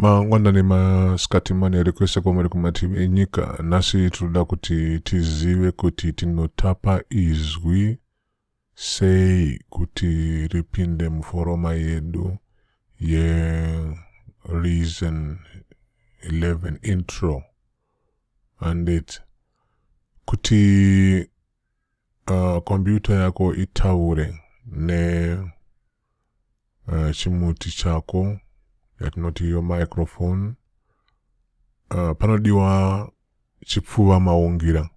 mangwanani masikati manere kwese kwamuri kumativi enyika nhasi tinoda kuti tizive kuti tinotapa izwi sei kuti ripinde muforoma yedu yereason 11 intro handiti kuti Uh, computer yako itaure ne uh, chimuti chako yatinoti yo microphone uh, panodiwa chipfuva maungira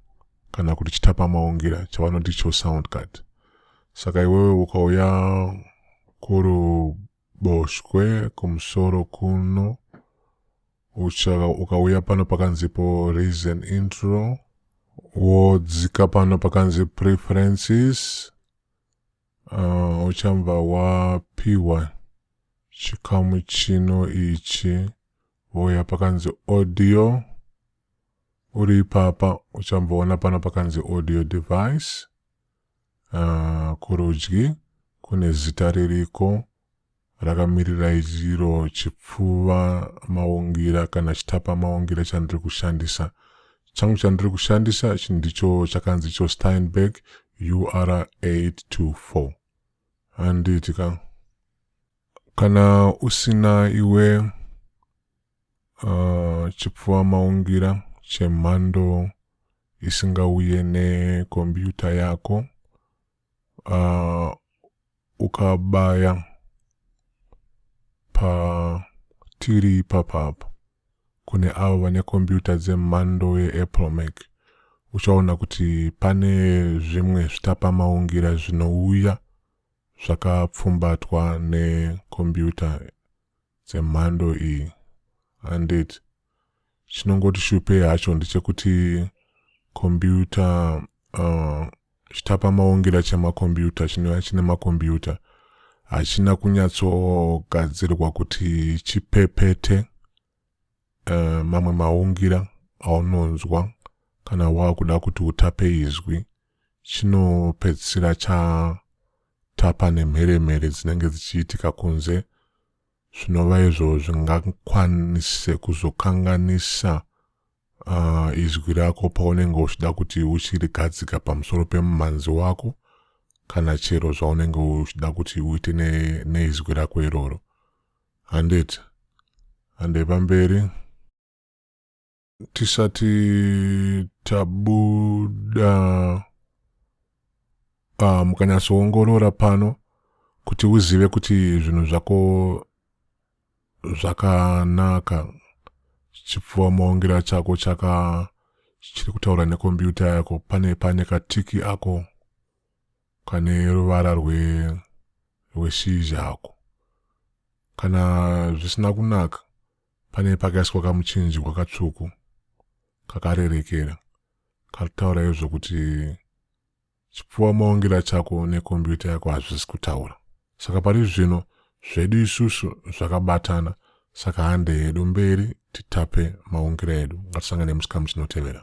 kana kuti chitapa maungira chavanoti cho sound card saka iwewe ukauya kuruboshwe kumusoro kuno Ucha ukauya pano pakanzipo raise an intro wodzika pano pakanzi preferences uh, uchambva wapiwa chikamu chino ichi wouya pakanzi audio uri ipapa uchamboona pano pakanzi audio device Ahh kurudyi kune zita ririko rakamirirai iro chipfuva maungira kana chitapa maungira chandiri kushandisa changu chandiri kushandisa ichi ndicho chakanzi icho Steinberg UR824 handiti ka kana usina iwe Uh, chipfuva maungira chemhando isingauye nekombiyuta yako uh, ukabaya patiri ipapa apa kune avo vane kombiyuta dzemhando yeapple mac uchaona kuti pane zvimwe zvitapamaungira zvinouya zvakapfumbatwa nekombiyuta dzemhando iyi handit chinongoti shupei hacho ndechekuti kombiyuta uh, chitapa maongera chemakombiyuta chinova chine makombiyuta hachina kunyatsogadzirwa kuti chipepete uh, mamwe maungira aunonzwa kana waakuda kuti utape izwi chinopedzisira chatapa nemheremhere dzinenge dzichiitika kunze zvinova izvo zvingakwanise kuzokanganisa uh, izwi rako paunenge uchida kuti uchirigadzika pamusoro pemumhanzi wako kana chero zvaunenge uchida kuti uite neizwi ne rako iroro handiti handei pamberi tisati tabuda uh, mukanyatsoongorora pano kuti uzive kuti zvinhu zvako zvakanaka chipfuwa maongera chako chaka chiri kutaura nekombiyuta yako pane pane katiki ako kane ruvara rweshizha ako kana zvisina kunaka Pane pakaiswa kamuchinjikwa katsvuku kakarerekera kataura izvo kuti chipfuwa maongera chako nekombiyuta yako hazvisi kutaura saka pari zvino zvedu isusu zvakabatana saka hande yedu mberi titape maungira edu ngatisangane musikamu chinotevera